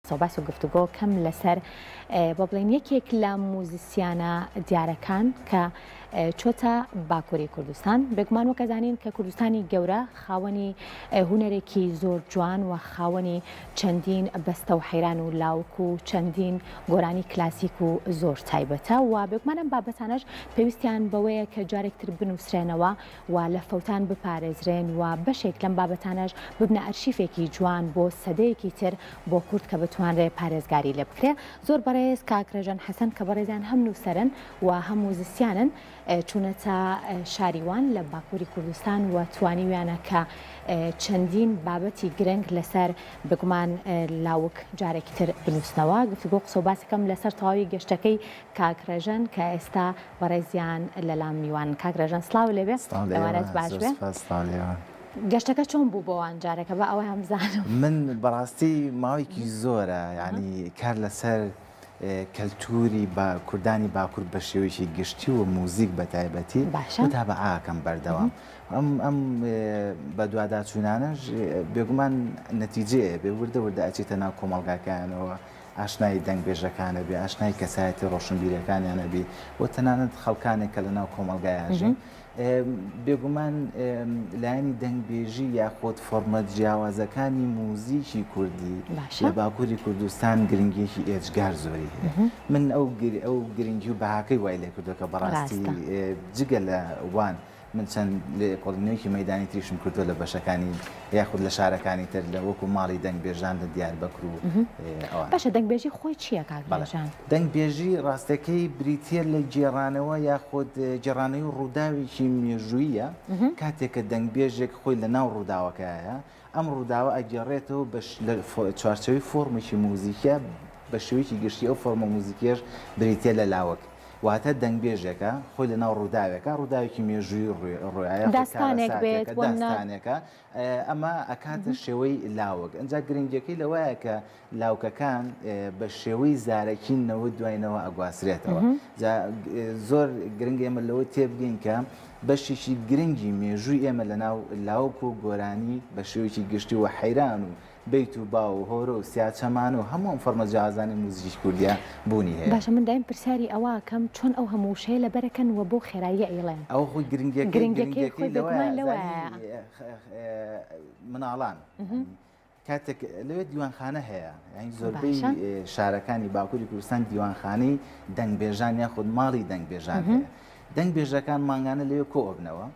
سەوباس و گفتوگۆ کەم لەسەر با بڵێن یەکێک لە موزیسیانە دیارەکان کە چۆتە باکووری کوردستان بێگومان وەکەزانین کە کوردستانی گەورە خاوەنی هوەرێکی زۆر جوان و خاوەنی چەندین بەستە و حەیران و لاوک و چەندین گۆرانی کلاسیک و زۆر تایبەتە و بێگومانم بابەتانەش پێویستیان بەوەیە کە جارێکتر بنووسرێنەوە و لە فەوتان بپارێزرێن و بەشێک لەم بابەتانەش ببنە ئەرشیفێکی جوان بۆ سەدەیەکی تر بۆ کورد کە بتوانرێ پارێزگاری لێ بکرێ زۆر بەڕێز کاک رێژان حەسەن کە بەڕێزیان هەم نووسەرن و هەم موزیسیانن چوونەتە شاری وان لە باکووری کوردستان و توانیویانە کە چەندین بابەتی گرنگ لەسەر بگومان لاوک جارێکی تر بنووسنەوە گفتوگۆ قسە و باسەکەم لەسەر تەواوی گەشتەکەی کاک رێژەن کە ئێستا بەڕێزیان لەلام میوانن کاک رێژەن سڵاو لێبێ سڵاو لە ئێوە ئێوارەت باش زۆر بێ سوپاس سڵاو لە ئێوە گەشتەکە چۆن بوو بۆوان جارەکە با ئەوەیان بزانم من بەڕاستی ماوەیەکی زۆرە یانی کار لەسەر اه، کەلتووری با کوردانی باکوور بە شێوەیەکی گشتی و موزیک بە تایبەتی باشە. متابعەکەم بەردەوام ئەم ئەم اه، بەدواداچوونانەش اه، بێگومان نەتیجەیە بێ وردە وردە ئەچێتە ناو کۆمەڵگاکەیانەوە ئاشنای دەنگ بێژەکان ئەبی، ئاشنای کەسایەتی ڕۆشنبیرەکانیان ئەبی و تەنانەت خەڵکانێک کە لەناو کۆمەڵگای ئاژین. بێگومان لایەنی دەنگ بێژی یاخود فۆرمە جیاوازەکانی موزیکی کوردی لە باکووری کوردستان گرنگیەکی ئێجگار زۆری هەیە. من ئەو گرنگی و بەهاکەی وای لێکردوە کە بەڕاستی جگە لە وان من چەند لێکۆڵینەوەیەکی مەیدانی تریشم کردووە لە بەشەکانی یاخود لە شارەکانی تر لە وەکو ماڵی دەنگبێژان لە دیار بەکر و باشە دەنگبێژی خۆی چییە کاکبڵێژان دەنگبێژی ڕاستەکەی بریتە لە گێڕانەوە یاخود گێڕانەوەی ڕووداوێکی مێژوویە کاتێکە دەنگبێژێک خۆی لە ناو ڕووداوەکەیە ئەم ڕووداوە ئەگێڕێتەوە بە لە چوارچێوەی فۆرمێکی موزیکە بە شێوەیەکی گشتی ئەو فۆرمە موزیکیەش بریتە لە لاوەک واتە دەنگبێژێکە خۆی لە ناو ڕووداوێکە ڕووداوێکی مێژووی ڕۆایە داستانێک بێت داستانێکە ئەمە ئەکاتە شێوەی لاوەک ئەجا گرنگەکەی لەوایە کە لاوکەکان بە شێوەی زارەکی نەوە دوای نەوە ئەگوازرێتەوە جا زۆر گرنگ ئێمە لەوە تێبگەین کە بەشێکی گرنگی مێژووی ئێمە لە ناو لاوک و گۆرانی بە شێوەیەکی گشتی و حەیران و بیت و با و هۆرە و سیاچەمانە و هەموو ئەم فەرمە جیازانی موزیکی کوردیا بوونی هەیە باشە من دایم پرسیاری ئەوەکەم چۆن ئەو هەموو وشەیە لەبەرەکەن و بۆ خێراییە ئەیڵێن ئەو خۆی گرنگەکەی گرنگەکەی خۆی بێگومان لەوە مناڵان کاتێک لەوێ دیوانخانە هەیە یانی زۆربەی شارەکانی باکووری کوردستان دیوانخانەی دەنگبێژان یاخود ماڵی دەنگبێژان هەیە دەنگ بێژەکان مانگانە لەوێ کۆبنەوە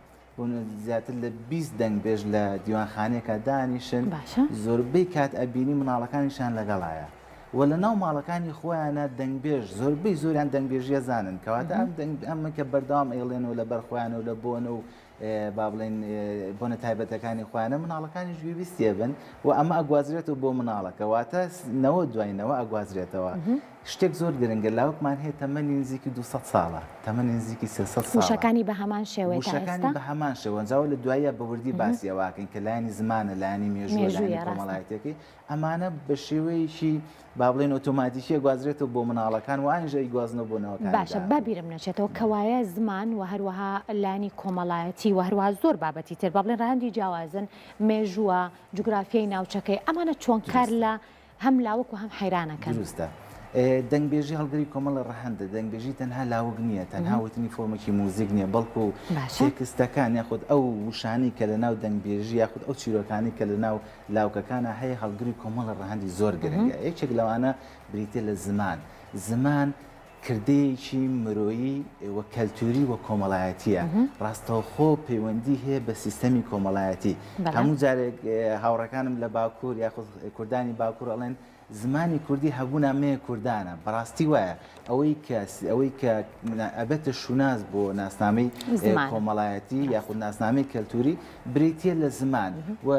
زیاتر لە 20 دەنگبێژ لە دیوانخانەیەکە دانیشن زۆربەی کات ئەبینی مناڵەکانیشان لەگەڵایە و لە ناو ماڵەکانی خۆیانە دەنگبێژ زۆربەی زۆریان دەنگبێژیە زانن کەواتە ئەم دەنگ ئەمە کە بەردەوام ئەیڵێنەوە لە بەرخۆیانەوە لە بۆنە و با بڵێن بۆنە تایبەتەکانی خۆیانە مناڵەکانیش گوێبیستێ بن و ئەمە ئەگوازرێتەوە بۆ مناڵەکە واتە نەوە دواینەوە ئەگوازرێتەوە شتێک زۆر گرنگە لاوکمان هەیە تەمەنی نزیکی 200 ساڵە تەمەنی نزیکی سەشەکانی بە هەمان شێوەکانی بە هەمان شێوەنجاوە لە دوایە بەوردی باسیەوەکەین کە لایانی زمانە لایانی مێژووە لایانی کۆمەڵایەتەکەی ئەمانە بە شێوەیەکی با بڵێن ئۆتۆماتیکیە گوازرێتەوە بۆ مناڵەکان و ئاینجا ئیگوازنەوە بۆ نەوەکانی داهاتوو. باشە با بیرم نەچێتەوە کەوایە زمان و هەروەها لایەنی کۆمەڵایەتی و هەروەها زۆر بابەتی تر با بڵێن ڕەهەندی جیاوازن، مێژووە، جوگرافیای ناوچەکەی، ئەمانە چۆن کار لە هەم لاوک و هەم حەیران ئەکەن؟ دروستە. دەنگبێژی هەڵگری کۆمەڵە ڕەهەندە، دەنگبێژی تەنها لاوک نییە، تەنها وتنی فۆرمێکی موزیک نییە، بەڵکوو باشە. تێکستەکان یاخود ئەو وشانەی کە لەناو دەنگبێژی یاخود ئەو چیرۆکانەی کە لەناو لاوکەکانا هەیە هەڵگری کۆمەڵە ڕەهەندی زۆر گرنگە یەکێک لەوانە بریتە لە زمان زمان کردەیەکی مرۆیی و کەلتوری و کۆمەڵایەتیە ڕاستەوخۆ پەیوەندی هەیە بە سیستەمی کۆمەڵایەتی هەموو جارێک هاوڕەکانم لە باکوور یاخود کوردانی باکوور ئەڵێن زمانی کوردی هەبوو نامەیە کوردانە بەڕاستی وایە ئەوەی کە ئەوەی کە ئەبێتە شوناس بۆ ناسنامەی کۆمەڵایەتی یاخود ناسنامەی کەلتوری بریتە لە زمان و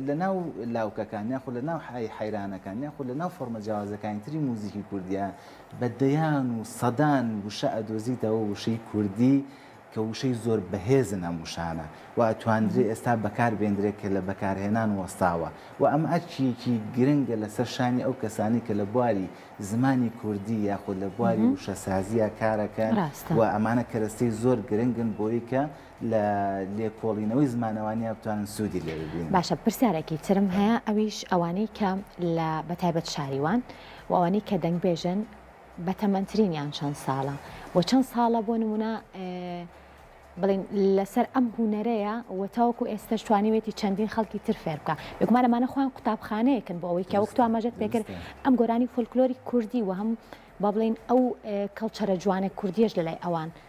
لە ناو لاوکەکان یاخود لە ناو حای حیرانەکان یاخود لە ناو فۆرمە جیاوازەکانی تری موزیکی کوردیە بە دەیان و سەدان وشە ئەدۆزیتەوە وشەی کوردی کە وشەی زۆر بەهێزن ئەم وشانە و ئەتوانرێ ئێستا بەکار بێندرێ کە لە بەکارهێنان وەستاوە و ئەمە ئەرکییەکی گرنگە لە سەر شانی ئەو کەسانەی کە لە بواری زمانی کوردی یاخود لە بواری وشەسازییا کارەکەن و ئەمانە کەرەستەی زۆر گرنگن بۆی کە لە لێکۆڵینەوەی زمانەوانیا بتوانن سوودی لێ ببینن. باشە پرسیارێکی ترم هەیە ئەویش ئەوانەی کە لە بە تایبەت شاریوان و ئەوانەی کە دەنگبێژن، بەتەمەنترینیان چەند ساڵە و چەند ساڵە بۆ نمونە بڵین لەسەر ئەم هوونەرەیە و تاوەکو ئێستش توانیوێتی چەندین خەڵکی تر فێر بکە بگومان ئەمانە خۆیان قوتابخانەیەکن بۆ ئەوەی کە وەکتوان مەژەت پێکرد ئەم گۆرانی فۆلکلۆری کوردی و هەم با بڵین ئەو کەڵچەرە جوانە کوردیش لەلای ئەوان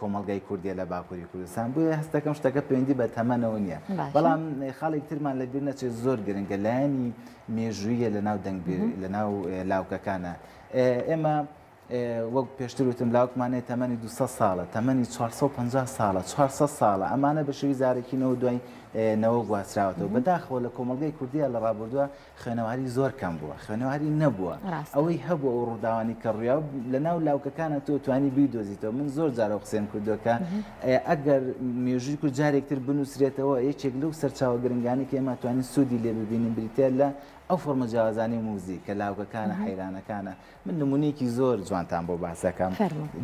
کۆمەڵگای کوردیە لە باکووری کوردستان بۆیە هەستەکەم شتەکە پەیوەندی بە تەمەەوە نییە بەڵام خاڵێک ترمان لە بیر نەچێت زۆر گرنگە لایەنی مێژوویە لە ناو دەنگ لە ناو لاوکەکانە ئێمە وەک پێشتر وتم لاوکمانێت تەمەنی 200 ساڵە تەمەنی 450 ساڵە 400 ساڵە ئەمانە بە شوی زارەکینەوە دوای نەوە گواستراوەتەوە بەداخەوە لە کۆمەلگای کوردیا لە ڕابردووە خوێنەواری زۆر کەم بووە خوێنەواری نەبووە ئەوەی هەبوو ئەو ڕووداوانی کە ڕویا لە ناو لاوکەکانە تۆ توانی بی دۆزیتەوە من زۆر جارە قسەم کردوەکە ئەگەر مێژووی کورد جارێکتر بنووسرێتەوە یەکێک لەو سەرچاوە گرنگانی کە ئێمە توانین سوودی لێ ببینین بریتە لە ئەو فۆرمە جیازانی موزی کە لاوکەکانە حیرانەکانە من نمونونێکی زۆر جوانتان بۆ باسەکەم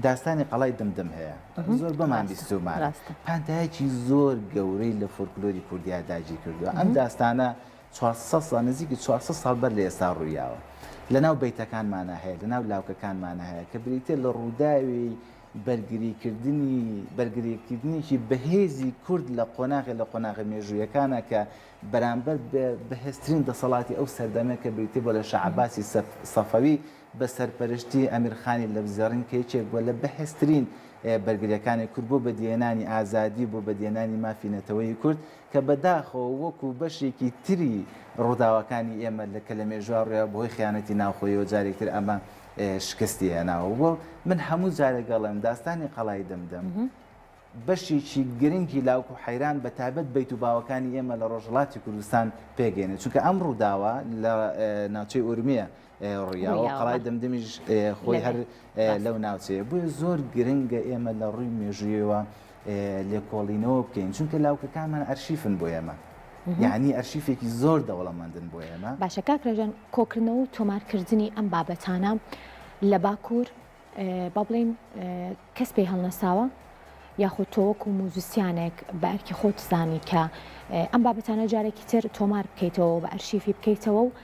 داستانی قەڵای دمدم هەیە زۆر بەمان بیستومان پانتایەکی زۆر گەورەی لە فۆرکلۆری کوردیا داگیر کردووە ئەم داستانە چوار سەد ساڵ، نزیکی چوار سەد ساڵ بەر لە ئێستا ڕوویاوە. لە ناو بەیتەکانمانا هەیە، لە ناو لاوکەکانمانا هەیە، کە بریتییە لە ڕووداوی بەرگریکردنی، بەرگریکردنێکی بەهێزی کورد لە قۆناغێ لە قۆناغە مێژوویەکانا کە بەرامبەر بە بەهێزترین دەسەڵاتی ئەو سەردەمە کە بریتیبووە لە شا عەباسی سەفەوی، بە سەرپەرشتی ئەمیر خانی لەپزێڕین کە یەکێک بووە لە بەهێزترین بەرگرییەکانی کورد بۆ بەدیهێنانی ئازادی و بۆ بەدیهێنانی مافی نەتەوەیی کورد کە بەداخەوە وەکوو بەشێکی تری ڕووداوەکانی ئێمە لە کە لە مێژووا ڕوویاوە بەهۆی خیانەتی ناوخۆییەوە جارێک تر ئەمە شکستی هێناوە و من هەموو جارێک ئەڵێم داستانی قەڵای دمدم بەشێکی گرنگی لاوک و حەیران بە تایبەت بەیت و باوەکانی ئێمە لە ڕۆژهڵاتی کوردستان پێگەێنێت چونکە ئەم ڕووداوە لە ناوچەی ئورمیە ڕیاوە و قەڵای دمدمیش خۆی هەر لەو ناوچەیە بۆیە زۆر گرنگە ئێمە لە ڕووی مێژوویەوە لێکۆڵینەوە بکەین چونکە لاوکەکانمان ئەرشیفن بۆ ئێمە یعنی ئەرشیفێکی زۆر دەوڵەمەندن بۆ ئێمە باشە کاکرێژان کۆکردنەوە و تۆمارکردنی ئەم بابەتانە لە باکوور با بڵین کەس پێی هەڵنەساوە یاخود تۆوەک و موزیسیانێک بە ئەرکی خۆت زانی کە ئەم بابەتانە جارێکی تر تۆمار بکەیتەوە بە ئەرشیفی بکەیتەوە و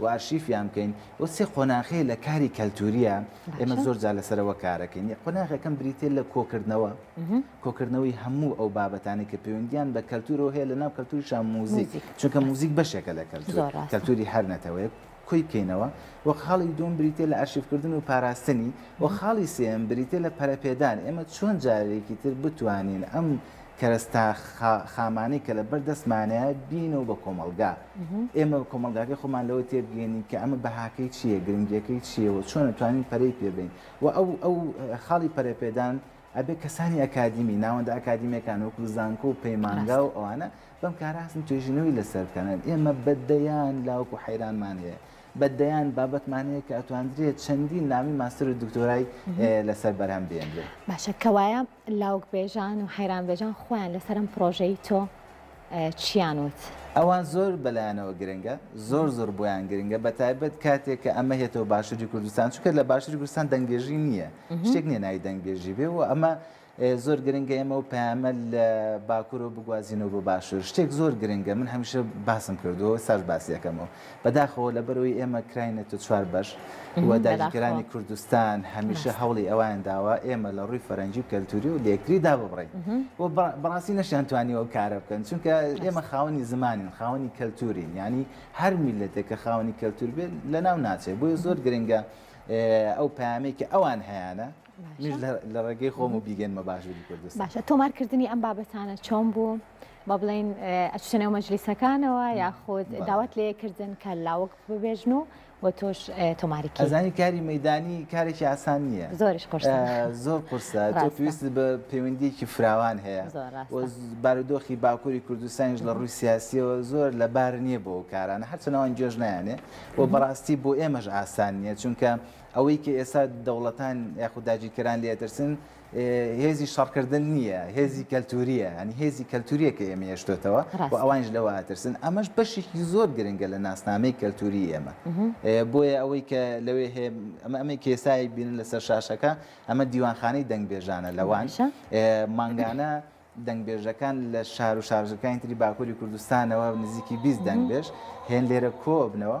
و ئارشیفیان بکەین و سێ قۆناخی لە کاری کەلتووریە ئێمە زۆر جا لەسەرەوە کارەکەین قۆناغەکەم بریتێ لە کۆکردنەوە کۆکردنەوەی هەموو ئەو بابەتانی کە پەیوەندیان بە کەلتوورەوە هەیە لە ناو کەلتوریشان موزیک چونکە موزیک بەشێکە لە کەلتوور کەلتوری هەر نەتەوەیەک کۆی بکەینەوە وە خاڵی دوم بریتێ لە ئارشیفکردن و پاراستنی و خاڵی سێم بریتێ لە پەرەپێدان ئێمە چۆن جارێکی تر بتوانین ئەم کەرەستە خامانەی کە لەبەر دەستمانە بینەوە بە کۆمەڵگا ئێمە کۆمەلگاکەی خۆمان لەوە تێبگەێنین کە ئەمە بەهاکەی چییە گرنگیەکەی چیەوە چۆن نتوانین پەرەی پێبین و ئەو ئەو خاڵی پەرەپێدان ئەبێ کەسانی ئەکادیمی ناوەندە ئەکادیمیەکان وەکو زانکۆ و پەیمانگا و ئەوانە بەم کاراسن توێژینەوەی لەسەر بکەنن ئێمە بەدەیان لاوەکو حەیرانمان هەیە بە دەیان بابەتمان هەیە کە ئەتواندرێت چەندین نامی ماستەر و دکتۆرای لەسەر بەرهەم بێنرێت باشە کەوایە لاوکبێژان و حەیرانبێژان خۆیان لەسەر ئەم پڕۆژەی تۆ چیان وت؟ ئەوان زۆر بەلایانەوە گرنگە، زۆر زۆر بۆیان گرنگە، بەتایبەت کاتێک کە ئەمە هێتەوە باشوری کوردستان، چونکە لە باشوری کوردستان دەنگبێژی نییە، شتێک نییە ناوی دەنگبێژی بێ و ئەمە زۆر گرنگە ئێمە ئەو پەیامە لە باکورەوە بگوازینەوە بۆ باشور، شتێک زۆر گرنگە، من هەمیشە باسم کردووە و ئێستاش باسی ئەکەمەوە. بەداخەوە لەبەرئەوەی ئێمە کراینەتە چوار بەش و داگیرکەرانی کوردستان هەمیشە هەوڵی ئەوان داوە ئێمە لە ڕووی فەرەنگی و کەلتوری و لەکتری داببڕین و بەڕاستی نەشیان توانی ئەو کارە بکەن چونکە ئێمە خاوەنی زمانین خاوەنی کەلتورین ینی هەر میلەتێک کە خاوەنی کەلتور بێت لە ناو ناچێت بۆیە زۆر گرنگە ئەو پامێکی ئەوان هەیەە لەڕێگەی خۆم و بیگەنمە باشووری کوردستان باشە تۆمارکردنی ئەم بابەتانە چۆن بوو بە بڵین ئەچنەوە مەجلیسەکانەوە یاخود داوات لەیەکردن کە لاوەک ببێژن و و تۆش تۆماری کەزانی کاری مەدانی کارێکی ئاسان نییە زۆرش زۆر قرسە پێویست بە پەیوەندیکی فراوان هەیە بارودۆخی باکووری کوردستانیش لە ڕووی سیاسیەوە زۆر لە بار نییە بۆ کارانە هەرچەنەوەن گوێژ نیانێ و بەڕاستی بۆ ئێمەش ئاسان نییە چونکە ئەوەی کە ئێستا دەوڵەتان یاخود داگیرکەران لێ ئەترسن هێزی شەڕکردن نییە، هێزی کەلتورییە، هەنی هێزی کەلتورییە کە ئێمە هێشتوێتەوە و ڕاستە. ئەوانیش لەوە ئەترسن. ئەمەش بەشێکی زۆر گرنگە لە ناسنامەی کەلتوریی ئێمە. بۆیە ئەوەی کە لەوێ هەیە، ئەمە ئەمەی کە ئێستا ئەیبینن لەسەر شاشەکە، ئەمە دیوانخانەی دەنگبێژانە لە وان. باشە. مانگانە دەنگبێژەکان لە شار و شارۆچکەکانی تری باکوری کوردستانەوە نزیکی بیست دەنگبێژ هێن لێرە کۆ ئەبنەوە.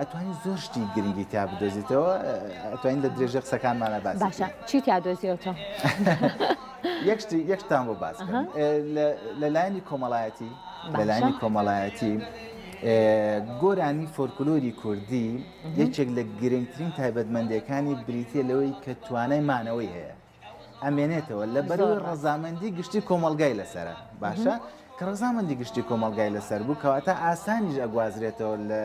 ئەتوانی زۆر شتی گرنگی تا بدۆزیتەوە ئەتوانین لە درێژە قسەکانمانە باس باشە چی تا دۆزیەوەەوە یەکشتی یەکتان بۆ باس لەلایانی کۆمەڵایەتی لەلایانی کۆمەڵایەتی گۆرانی فۆرکلۆری کوردی یەکێک لە گرنگترین تایبەتمەندەکانی بریتە لەوەی کە توانای مانەوەی هەیە ئەمێنێتەوە لە بەروی ڕەزامەندی گشتی کۆمەلگای لەسرە باشە کە ڕزامەندی گشتی کۆمەلگای لەسەر بوو کەواتە ئاسانیش ئەگوازرێتەوە لە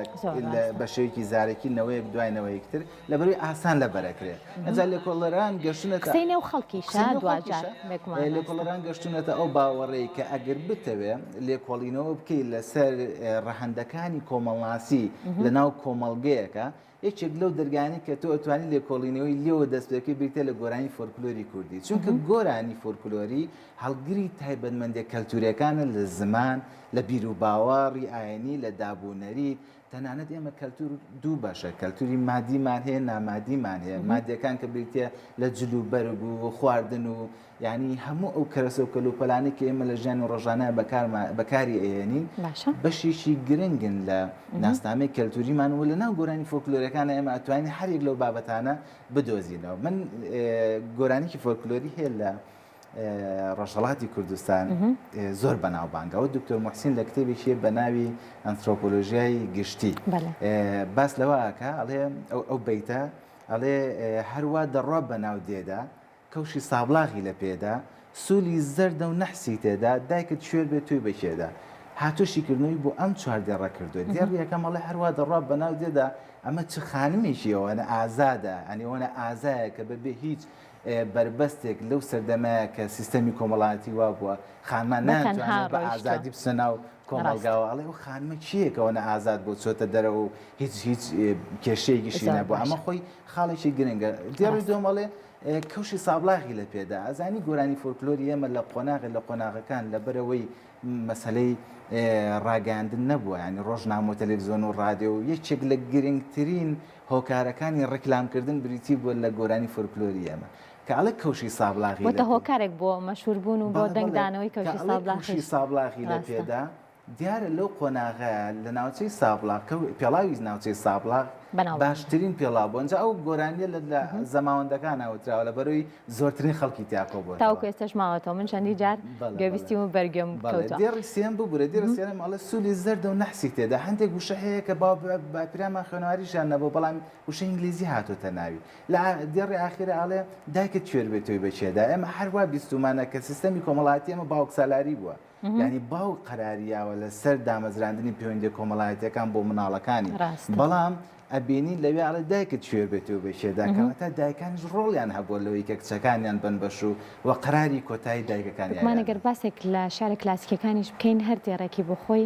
بە شێوکی زارێکی نەوەیەک دوایەوەیەکتر لە بەروی ئاسان لە بەرەکرێت ئەجا لە کۆڵەران گەشتونە قسەینە و خەڵکی لە کۆڵەران گەشتونەتە ئەو باوەڕێی کە ئەگەر بتەوێ لێکۆڵینەوە بکەیت لەسەر ڕەهندەکانی کۆمەڵناسی لە ناو کۆمەلگەیەەکە یەکێک لەو دەرگانەی کە تۆ ئەتوانی لێکۆڵینەوەی لێوە دەست پێکەی بریتە لە گۆرانی فۆلکلۆری کوردی چونکە گۆرانی فۆلکلۆری هەڵگری تایبەتمەندێ کەلتورەکانە لە زمان لە بیر و باوەڕی ئاینی لە دابوونەری تەنانەت ئێمە کەلتور دوو بەشە کەلتوری مادیمان هەیە نامادیمان هەیە مادیەکان کە بریتە لە جل و بەرگ و خواردن و یانی هەموو ئەو کەرەسە و کەلوپەلانەی کە ئێمە لە ژیانی ڕۆژانە بەکاری ئەهێنین بەشێکی گرنگن لە ناسنامەی کەلتوریمان و لە ناو گۆرانی فۆکلۆرەکانە ئێمە ئەتوانین هەرێک لەو بابەتانە بدۆزینەوە من گۆرانیکی فۆکلۆری هەیە لە ڕۆژهڵاتی کوردستان زۆر بەناوبانگەوە دکتۆر محسین لە کتێبێکی بە ناوی ئەنترۆپۆلۆژیای گشتی باس لەوەکە ئەڵێ ئەو بیتە ئەڵێ هەروە دەڕوا بە ناو دێدا کەوشی سابڵاغی لە پێدا، سولی زەردە و نەحسی تێدا، دایکت کوێر بێ تۆی بە کێدا؟ هاتووە شیکردنەوەی بۆ ئەم چوار دێڕە کردووە، دێڕی یەکەم ئەڵێ هەروا دەڕوا بە ناو دێدا، ئەمە چ خانمێکی ئەوەنە ئازادە، یانی ئەوەنە ئازایە کە بە بێ هیچ بەربەستێک لەو سەردەمەیە کە سیستەمی کۆمەڵایەتی وا بووە خانمان ناتوانێت بە ئازادی بچنە ناو کۆمەڵگاوە، ئەڵێ ئەو خانمە کێیە کە ئەوەنە ئازاد بووە چۆتە دەرەوە و هیچ هیچ کێشەیەکیشی نەبووە، ئەمە خۆی خاڵێکی گرنگە. دێڕی دووەم ئەڵێ، کەوشی سابڵاغی لە پێدا ئەزانی گۆرانی فۆلکلۆری ئێمە لە قۆناغی لە قۆناغەکان لەبەرەوەی مەسلەی ڕاگەاندن نەبووە ینی ڕۆژنامە و تەلەڤزیۆن و ڕادێ و یەکێک لە گرنگترین هۆکارەکانی ڕیکلامکردن بریتی بووە لە گۆرانی فۆلکلۆری ئێمە کاڵە کەوشی سابڵاغی هۆکارێک بۆ مەشوربوون و بۆ دەنگدانەوەی کەوشی سابڵاغی لە پێدا دیارە لەو قۆناغە لە ناوچەی سابڵاغ کە پێڵاوی ناوچەی سابڵاغ باشترین پێڵاو بوون جا ئەو گۆرانیە لە زەماوەندەکان ناوتراوە لە بەرەوەی زۆرترین خەڵکی تیاکۆ بووە تاوکو ئێستش ماوەتەوە من چەندی جار گوێبیستی و بەرگێم دێڕی سێم ببورە دێڕ سێرم ئەڵە سولی زەرد و نەحسی تێدا هەندێک وشە هەیە کە با باپیرامان خوێنەواریشان نەبوو بەڵام وشە ئینگلیزی هاتۆتە ناوی لە دێڕی ئاخیرە ئەڵێ دایکت کوێر بێت تۆی بەچێدا ئێمە هەروا بیستمانە کە سیستەمی کۆمەڵاتی ئەمە باوکسالاری بووە یانی باوک قەراریاوە لەسەر دامەزراندنی پەیوەندی کۆمەڵایەتەکان بۆ مناڵەکانی بەڵام ئەبینی لەوێ ئەڵێ دایکت شوێر بێتەوە بە شێداکەەوە تا دایکانیش ڕۆڵیان هەبووە لەوەی کە کچەکانیان بن بەش و و قەراری کۆتایی دایکەکانیانمانەگەر باسێک لە شارە کلاسیکەکانیش بکەین هەر دێڕێکی بۆ خۆی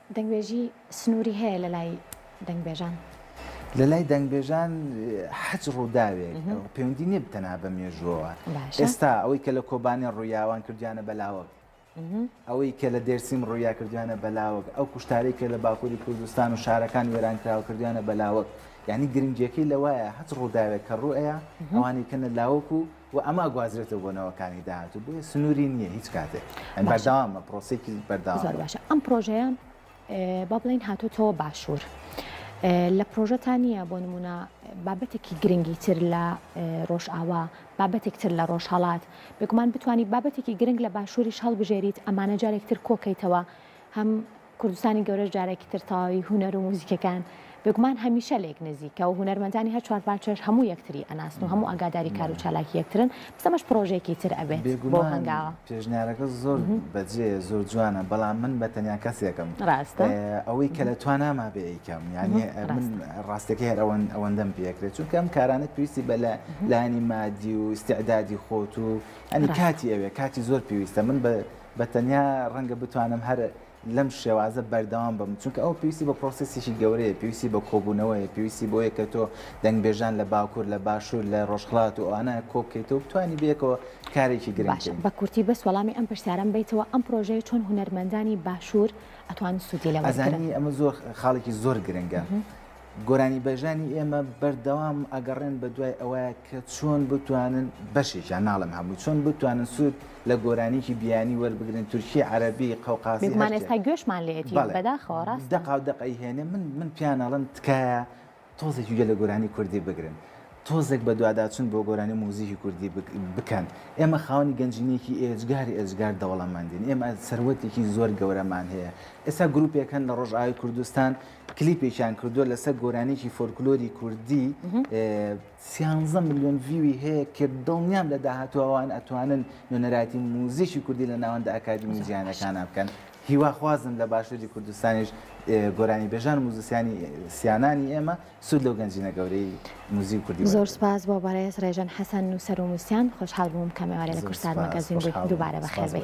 دەنگبێژی سنووری هەیە لە لای دەنگبێژان؟ لە لای دەنگبێژان حەج ڕووداوێک پەیوەندی نیە بتەنها بە مێژووەوە ئێستا ئەوەی کە لە کۆبانێ ڕوویاوان کردویانە بەلاوەک ئەوەی کە لە دێرسیم ڕوویا کردویانە بەلاوەک ئەو کوشتارەی کە لە باکووری کوردستان و شارەکان وێران کراوە کردویانە بەلاوەک یعنی گرنگیەکەی لەوایە هەچ ڕووداوێک کە ڕوئەیە ئەوانی کەنە لاوەک و و ئەمە ئەگوازرێتەوە بۆ نەوەکانی داهاتوو بۆیە سنووری نییە هیچ کاتێک ئەم بەرداوامە پرۆسێکی بەرداوە زۆر باشە ئەم پرۆژەیە با بڵین هاتوتەوە باشوور. لە پرۆژەتان نییە بۆ نمونە بابەتێکی گرنگی تر لە ڕۆژئاوا بابەتێک تر لە ڕۆژهڵات بێگومان بتانی بابەتێکی گرنگ لە باشووریش هەڵبژێریت ئەمانە جارێکتر کۆکەیتەوە هەم کوردستانی گەورەش جارێکی تر تەواوی هونەر و موزیکەکان بێگومان هەمیشە لێک نزیکە و هونەرمەندانی هەر چوار پارچەش هەموو یەکتری ئەناسن و هەموو ئاگاداری کار و چالاکی یەکترن، بەس ئەمەش پڕۆژەیەکی تر ئەبێت بەو هەنگاوە. بێگومان پێشنیارەکە زۆر بەجێیە زۆر جوانە بەڵام من بە تەنیا کەسێکم ئەوەی کە لە تواناما بێ ئەیکەم یانی من ڕاستەکەی هەر ئەوەندەم پێ ئەکرێت چونکە ئەم کارانە پێویستی بە لایەنی مادی و ئیستعدادی خۆت و یانی کاتی ئەوێ کاتی زۆر پێویستە من بە تەنیا ڕەنگە بتوانم هەر لەم شێوازە بەردەوام بم چونکە ئەو پێویستی بە پرۆسسیی گەورەیە پێویستی بە کۆبوونەوەیە پێویستی بۆیە کە تۆ دەنگبێژان لە باکوور لە باشوور لە ڕۆژخڵات و ئەوانە کۆبکەیتەوە بتانی بەیەکەوە کارێکی گرنگ بە کورتی بەس وەڵامی ئەم پرسیارەم بیتەوە ئەم پرۆژەیە چۆن هونەرمەندانی باشوور ئەتوان سوودی لێ وەرگرن؟ ئەزانی ئەمە زۆر خاڵێکی زۆر گرنگە گۆرانیبێژانی ئێمە بەردەوام ئەگەڕێن بە دوای ئەوە کە چۆن بتوانن بەشێکیان ناڵم هەموو چۆن بتوانن سوود لە گۆرانیکی بیانی وەربگرن تورکی عربی قەوقازی ئێستا گوێشمان لێتی بەداخەوە ڕاست دەقاو دەقی هێنێ من من پیانەڵم تکایە تۆزێکی گە لە گۆرانی کوردی بگرن تۆزێک بە دوواداچون بۆ گۆرانی موزیکی کوردی بکەن ئێمە خاونی گەنجینێکی ئێجگار ئێجگار دەوڵەمەندین ئێمە سەروەتێکی زۆر گەورەمان هەیە ئێستا گرروپێکەن لە ڕۆژئاوی کوردستان کلیپێکیان کردووە لەسەر گۆرانێکی فۆرکلۆری کوردی سیانزە میلیۆن ڤوی هەیە کە دڵنیام لە داهاتووان ئەتوانن نوێنەراتی موزیکی کوردی لە ناوەندە ئەکادمی زیانەکانە بکەن هیواخوازم لە باشووری کوردستانیش گۆرانی بێژان موزیسیانی سیانانی ئێمە سوود لەو گەنجینە گەورەی موزیک کوردی زۆر سپاس بۆ بەڕێز ڕێژەن حەسەن نووسەر و موسیان خۆشحال بووم کەمێوارە لە کوردستان مەگەزین دووبارە بەخێربێت.